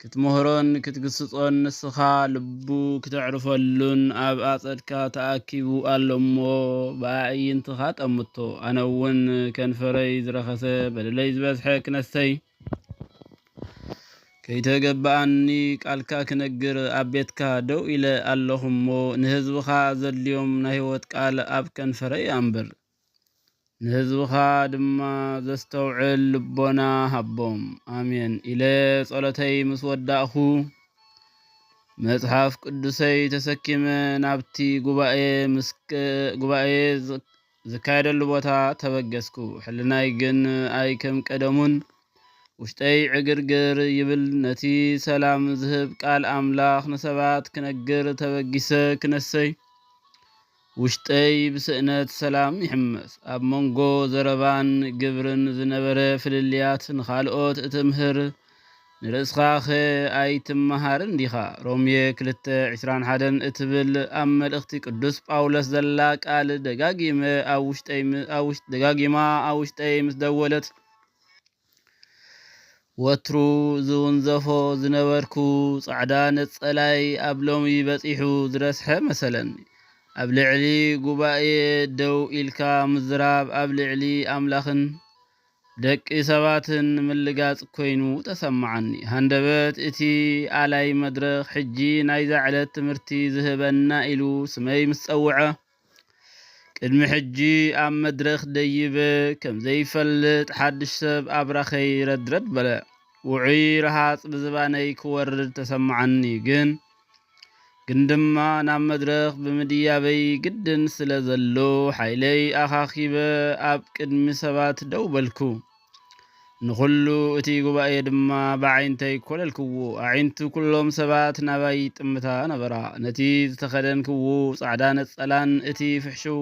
ክትምህሮን ክትግስጾን ንስኻ ልቡ ክተዕርፈሉን ኣብ ኣጸድካ ተኣኪቡ ኣሎ እሞ ብኣዕይንትኻ ጠምቶ ኣነ እውን ከንፈረይ ዝረኸሰ በደለይ ዝበዝሐ ክነሰይ ከይተገባኣኒ ቃልካ ክነግር ኣብ ቤትካ ደው ኢለ ኣለኹ እሞ ንህዝብኻ ዘድልዮም ናይ ህይወት ቃል ኣብ ከንፈረይ ኣንብር። ንህዝብኻ ድማ ዘስተውዕል ልቦና ሃቦም። ኣሜን ኢለ ጸሎተይ ምስ ወዳእኹ መጽሓፍ ቅዱሰይ ተሰኪመ ናብቲ ጉባኤ ዝካየደሉ ቦታ ተበገስኩ። ሕልናይ ግን ኣይ ከም ቀደሙን ውሽጠይ ዕግርግር ይብል። ነቲ ሰላም ዝህብ ቃል ኣምላኽ ንሰባት ክነግር ተበጊሰ ክነሰይ ውሽጠይ ብስእነት ሰላም ይሕመስ። ኣብ መንጎ ዘረባን ግብርን ዝነበረ ፍልልያት ንኻልኦት እትምህር፣ ንርእስኻኸ ኣይትመሃርን ዲኻ? ሮሜ ክልተ ዕስራን ሓደን እትብል ኣብ መልእኽቲ ቅዱስ ጳውሎስ ዘላ ቃል ደጋጊመ ኣብ ውሽጠይ ደጋጊማ ኣብ ውሽጠይ ምስ ደወለት፣ ወትሩ ዝውንዘፎ ዝነበርኩ ጻዕዳ ነጸላይ ኣብ ሎሚ በጺሑ ዝረስሐ መሰለኒ። ኣብ ልዕሊ ጉባኤ ደው ኢልካ ምዝራብ ኣብ ልዕሊ ኣምላኽን ደቂ ሰባትን ምልጋጽ ኮይኑ ተሰማዓኒ። ሃንደበት እቲ ኣላይ መድረኽ ሕጂ ናይዛ ዕለት ትምህርቲ ዝህበና ኢሉ ስመይ ምስ ጸውዐ፣ ቅድሚ ሕጂ ኣብ መድረኽ ደይበ ከም ዘይፈልጥ ሓድሽ ሰብ ኣብራኸይ ረድረድ በለ። ውዑይ ረሃጽ ብዝባነይ ክወርድ ተሰማዓኒ ግን ግን ድማ ናብ መድረኽ ብምድያበይ ግድን ስለ ዘሎ ሓይለይ ኣኻኺበ ኣብ ቅድሚ ሰባት ደው በልኩ። ንዅሉ እቲ ጉባኤ ድማ ብኣዒንተይ ኰለልክዎ፣ ኣዒንቲ ኵሎም ሰባት ናባይ ይጥምታ ነበራ። ነቲ ዝተኸደንክዎ ጻዕዳ ነጸላን እቲ ፍሕሽው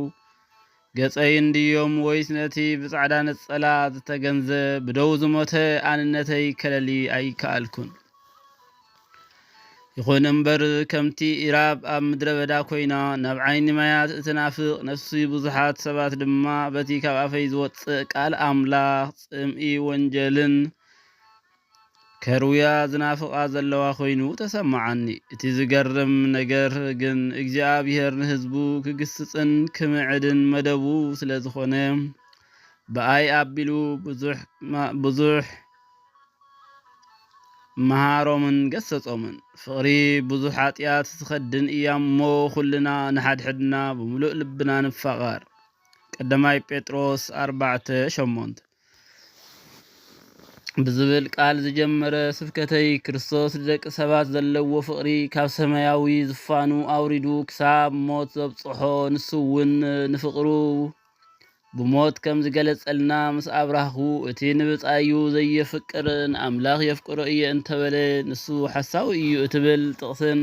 ገጸይን ድዮም ወይስ ነቲ ብጻዕዳ ነጸላ ዝተገንዘ ብደው ዝሞተ ኣንነተይ ከለሊ ኣይከኣልኩን። ይኹን እምበር ከምቲ ኢራብ ኣብ ምድረ በዳ ኮይና ናብ ዓይኒ ማያት እትናፍቕ ነፍሲ ብዙሓት ሰባት ድማ በቲ ካብ ኣፈይ ዝወጽእ ቃል ኣምላኽ ጽምኢ ወንጀልን ከርውያ ዝናፍቓ ዘለዋ ኮይኑ ተሰማዓኒ። እቲ ዝገርም ነገር ግን እግዚኣብሄር ንህዝቡ ክግስጽን ክምዕድን መደቡ ስለ ዝኾነ ብኣይ ኣቢሉ ብዙሕ ብዙሕ መሃሮምን ገሰጾምን። ፍቕሪ ብዙሕ ሓጢኣት ትኸድን እያ እሞ ኩልና ንሓድሕድና ብምሉእ ልብና ንፋቐር። ቀዳማይ ጴጥሮስ ኣርባዕተ ሸሞንተ ብዝብል ቃል ዝጀመረ ስብከተይ ክርስቶስ ንደቂ ሰባት ዘለዎ ፍቕሪ ካብ ሰማያዊ ዝፋኑ ኣውሪዱ ክሳብ ሞት ዘብጽሖ ንሱ እውን ንፍቕሩ ብሞት ከም ዝገለጸልና ምስ ኣብራህኩ እቲ ንብጻዩ ዘየፍቅር ንኣምላኽ የፍቅሮ እየ እንተበለ ንሱ ሓሳዊ እዩ እትብል ጥቕስን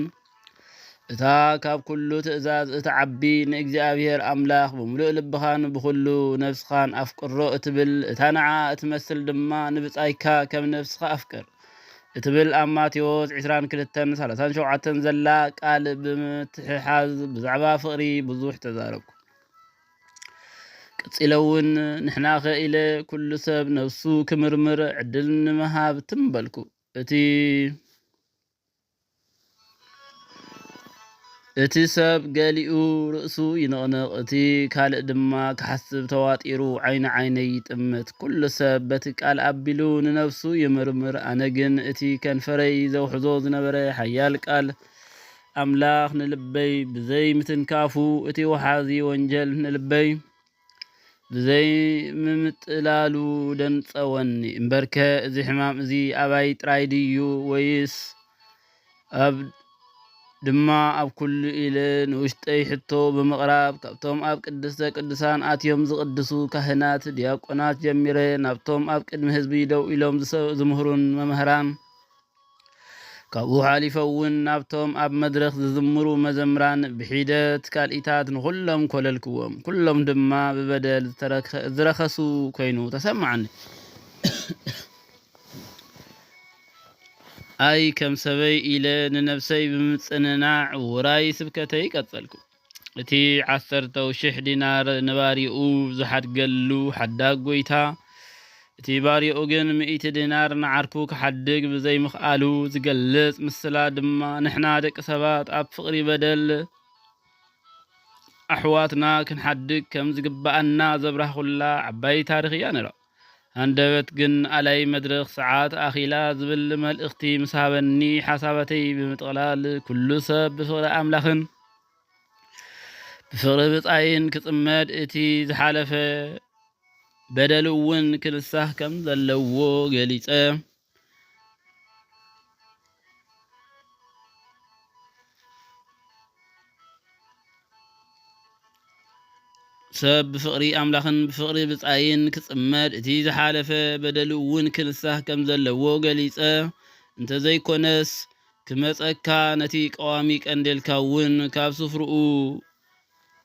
እታ ካብ ኩሉ ትእዛዝ እትዓቢ ንእግዚኣብሔር ኣምላኽ ብምሉእ ልብኻን ብኹሉ ነፍስኻን ኣፍቅሮ እትብል እታ ንዓ እትመስል ድማ ንብጻይካ ከም ነፍስኻ ኣፍቅር እትብል ኣብ ማቴዎስ 22:37 ዘላ ቃል ብምትሕሓዝ ብዛዕባ ፍቕሪ ብዙሕ ተዛረብኩ። ቀጺለ እውን ንሕናኸ ኢለ ኩሉ ሰብ ነብሱ ክምርምር ዕድል ንምሃብ ትም በልኩ። እቲ እቲ ሰብ ገሊኡ ርእሱ ይንቕንቕ፣ እቲ ካልእ ድማ ክሓስብ ተዋጢሩ ዓይኑ ዓይነይ ይጥምት። ኩሉ ሰብ በቲ ቃል ኣቢሉ ንነብሱ ይምርምር፣ ኣነ ግን እቲ ከንፈረይ ዘውሕዞ ዝነበረ ሓያል ቃል ኣምላኽ ንልበይ ብዘይ ምትንካፉ እቲ ወሓዚ ወንጀል ንልበይ ብዘይ ምምጥላሉ ደንጸወኒ። እምበርከ እዚ ሕማም እዚ ኣባይ ጥራይ ድዩ ወይስ ኣብ ድማ ኣብ ኩሉ ኢለ ንውሽጠይ ሕቶ ብምቕራብ ካብቶም ኣብ ቅድስተ ቅዱሳን ኣትዮም ዝቕድሱ ካህናት፣ ዲያቆናት ጀሚረ ናብቶም ኣብ ቅድሚ ህዝቢ ደው ኢሎም ዝምህሩን መምህራን ካብኡ ሓሊፈውን ናብቶም ኣብ መድረኽ ዝዝምሩ መዘምራን ብሒደት ካልኢታት ንኹሎም ኮለልክዎም። ኩሎም ድማ ብበደል ዝረኸሱ ኮይኑ ተሰማዓኒ። ኣይ ከም ሰበይ ኢለ ንነብሰይ ብምጽንናዕ ውራይ ስብከተይ ቀጸልኩ። እቲ ዓሰርተው ሽሕ ዲናር ንባርይኡ ዝሓድገሉ ሓዳግ ጐይታ፣ እቲ ባርያኡ ግን ሚእቲ ዲናር ንዓርኩ ክሓድግ ብዘይምኽኣሉ ዝገልጽ ምስላ ድማ ንሕና ደቂ ሰባት ኣብ ፍቕሪ በደል ኣሕዋትና ክንሓድግ ከም ዝግብኣና ዘብራህኩላ ዓባይ ታሪኽ እያ ነይራ። ሃንደበት ግን ኣላይ መድርኽ ሰዓት ኣኺላ ዝብል መልእኽቲ ምስ ሃበኒ ሓሳባተይ ብምጥቕላል ኩሉ ሰብ ብፍቕሪ ኣምላኽን ብፍቕሪ ብጻይን ክጽመድ እቲ ዝሓለፈ በደል'ውን ክንሳህ ከም ዘለዎ ገሊጸ። ሰብ ብፍቕሪ ኣምላኽን ብፍቕሪ ብጻይን ክጽመድ እቲ ዝሓለፈ በደሉ እውን ክንሳህ ከም ዘለዎ ገሊጸ እንተዘይኮነስ ክመጸካ ነቲ ቀዋሚ ቀንዴልካ እውን ካብ ስፍርኡ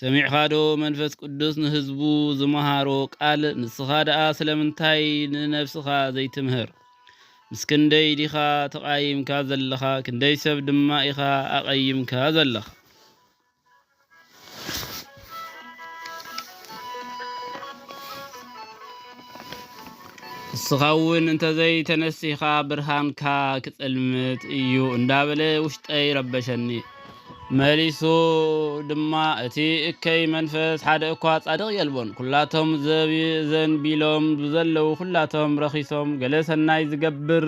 ሰሚዕኻዶ መንፈስ ቅዱስ ንህዝቡ ዝመሃሮ ቃል ንስኻ ደኣ ስለምንታይ ንነብስኻ ዘይትምህር ምስ ክንደይ ዲኻ ተቃይምካ ዘለኻ ክንደይ ሰብ ድማ ኢኻ ኣቀይምካ ዘለኻ ንስኻ እውን እንተዘይተነሲኻ ብርሃንካ ክጽልምት እዩ እንዳበለ ውሽጠይ ረበሸኒ መሊሱ ድማ እቲ እከይ መንፈስ ሓደ እኳ ጻድቕ የልቦን፣ ኩላቶም ዘንቢሎም ብዘለዉ ኩላቶም ረኺሶም፣ ገለ ሰናይ ዝገብር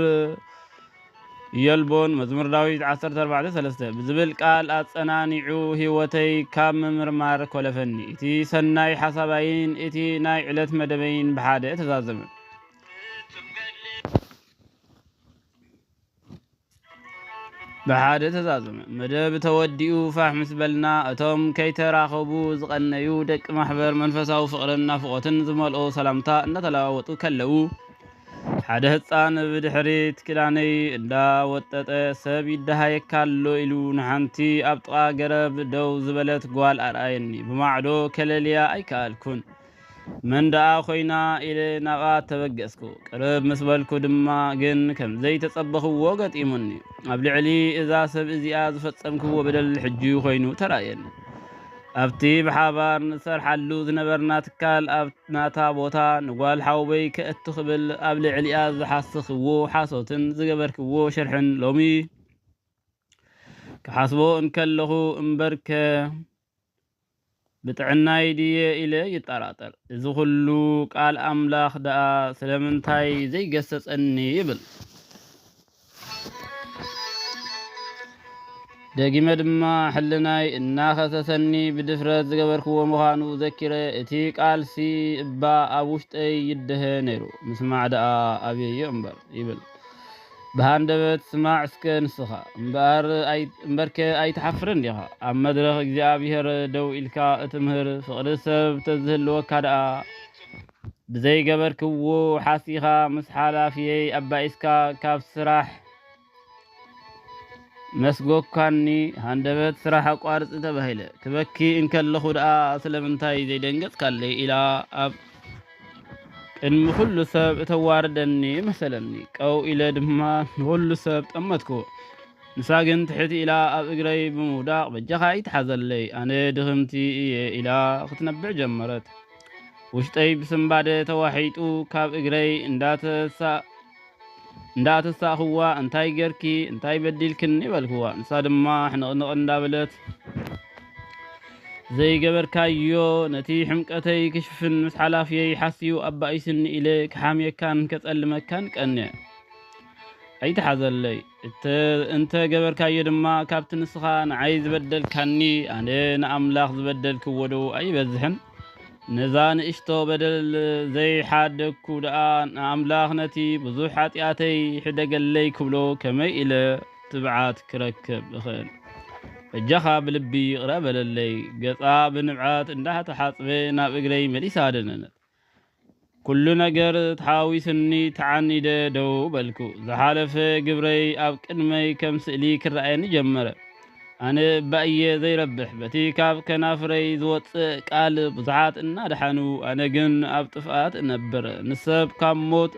የልቦን፣ መዝሙር ዳዊት ዓሰርተ ኣርባዕተ ሰለስተ ብዝብል ቃል ኣጸናኒዑ ህይወተይ ካብ ምምርማር ኮለፈኒ። እቲ ሰናይ ሓሳባይን እቲ ናይ ዕለት መደበይን ብሓደ ተዛዘመ። ብሓደ ተዛዘመ። መደብ ተወዲኡ ፋሕ ምስ በልና እቶም ከይተራኸቡ ዝቐነዩ ደቂ ማሕበር መንፈሳዊ ፍቕርን ናፍቖትን ዝመልኦ ሰላምታ እናተለዋወጡ ከለዉ ሓደ ህፃን ብድሕሪት ክዳነይ እንዳወጠጠ ሰብ ይደሃየካ ኣሎ ኢሉ ንሓንቲ ኣብ ጥቓ ገረብ ደው ዝበለት ጓል ኣርኣየኒ። ብማዕዶ ከለልያ ኣይከኣልኩን። መን ደኣ ኮይና ኢለ ናብኣ ተበገስኩ። ቅርብ ምስ በልኩ ድማ ግን ከም ዘይተጸበኽዎ ገጢሙኒ። ኣብ ልዕሊ እዛ ሰብ እዚኣ ዝፈጸምክዎ በደል ሕጂ ኮይኑ ተራእየኒ። ኣብቲ ብሓባር ንሰርሓሉ ዝነበርና ትካል ኣብ ናታ ቦታ ንጓል ሓውበይ ከእቱ ክብል ኣብ ልዕሊኣ ዝሓስኽዎ ሓሶትን ዝገበርክዎ ሽርሕን ሎሚ ክሓስቦ እንከለኹ እምበርከ ብጥዕናይ ድየ ኢለ ይጠራጠር፣ እዚ ዅሉ ቃል ኣምላኽ ደኣ ስለምንታይ ዘይገሰጸኒ? ይብል። ደጊመ ድማ ሕልናይ እናኸሰሰኒ ብድፍረት ዝገበርክዎ ምዃኑ ዘኪረ፣ እቲ ቃልሲ እባ ኣብ ውሽጠይ ይደሀ ነይሩ፣ ምስማዕ ደኣ ኣበየዮ እምበር! ይብል። ብሃንደበት ስማዕ እስከ ንስኻ። እምበርከ ኣይትሓፍርን ዲኻ? ኣብ መድረኽ እግዚኣብሄር ደው ኢልካ እትምህር ፍቕሪ ሰብ ተዝህልወካ ደኣ፣ ብዘይገበርክዎ ሓሲኻ ምስ ሓላፍየይ ኣባኢስካ ካብ ስራሕ መስጎካኒ ሃንደበት ስራሕ ኣቋርጺ ተባሂለ ክበኪ እንከለኹ ደኣ ስለምንታይ ዘይደንገጽካለይ ኢላ ኣብ ቅድሚ ኩሉ ሰብ እተዋርደኒ መሰለኒ። ቀው ኢለ ድማ ንኹሉ ሰብ ጠመትኩ። ንሳ ግን ትሕት ኢላ ኣብ እግረይ ብምውዳቕ በጃኻ ኣይትሓዘለይ ኣነ ድኽምቲ እየ ኢላ ክትነብዕ ጀመረት። ውሽጠይ ብስንባደ ተዋሒጡ ካብ እግረይ እንዳተሳ እንዳ ተሳእኽዋ እንታይ ጌርኪ እንታይ በዲልክኒ በልክዋ ንሳ ድማ ሕንቕንቕ እንዳበለት ዘይገበርካዮ ነቲ ሕምቀተይ ክሽፍን ምስ ሓላፍየይ ሓስዩ ኣባኢስኒ ኢለ ክሓምየካን ከጸልመካን ቀነ ኣይትሓዘለይ እንተ ገበርካዮ ድማ ካብቲ ንስኻ ንዓይ ዝበደልካኒ ኣነ ንኣምላኽ ዝበደልክዎ ዶ ኣይበዝሕን ነዛ ንእሽቶ በደል ዘይሓደግኩ ደኣ ንኣምላኽ ነቲ ብዙሕ ሓጢኣተይ ሕደገለይ ክብሎ ከመይ ኢለ ትብዓት ክረክብ እኽእል? በጃኻ ብልቢ ይቕረ በለለይ። ገጻ ብንብዓት እንዳተሓጽበ ናብ እግረይ መሊሳ ደነነት። ኩሉ ነገር ተሓዋዊሱኒ ተዓኒደ ደው በልኩ። ዝሓለፈ ግብረይ ኣብ ቅድመይ ከም ስእሊ ክረኣየኒ ጀመረ። ኣነ እባ እየ ዘይረብሕ፣ በቲ ካብ ከናፍረይ ዝወጽእ ቃል ብዙሓት እናደሓኑ ኣነ ግን ኣብ ጥፍኣት እነብር፣ ንሰብ ካብ ሞት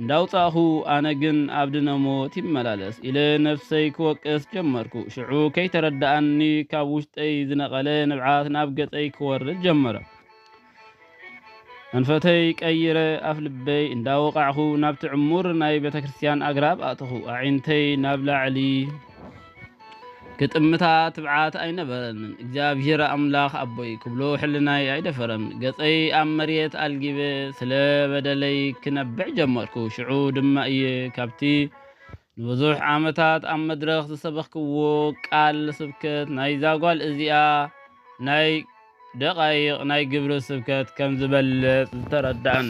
እንዳውጻእኹ ኣነ ግን ኣብ ድነ ሞት ይመላለስ ኢለ ነብሰይ ክወቅስ ጀመርኩ። ሽዑ ከይተረደኣኒ ካብ ውሽጠይ ዝነቐለ ንብዓት ናብ ገጸይ ክወርድ ጀመረ። ኣንፈተይ ቀይረ ኣፍ ልበይ እንዳወቓዕኹ ናብቲ ዕሙር ናይ ቤተ ክርስቲያን ኣግራብ ኣእተኹ። ኣዒንተይ ናብ ላዕሊ ክጥምታ ትብዓት ኣይነበረንን። እግዚኣብሔር ኣምላኽ ኣቦይ ክብሎ ሕልናይ ኣይደፈረን። ገጸይ ኣብ መሬት ኣልጊበ ስለ በደለይ ክነብዕ ጀመርኩ። ሽዑ ድማ እየ ካብቲ ንብዙሕ ዓመታት ኣብ መድረኽ ዝሰበኽክዎ ቃል ስብከት ናይዛ ጓል እዚኣ ናይ ደቓይቕ ናይ ግብሪ ስብከት ከም ዝበልጽ ዝተረድኣኒ።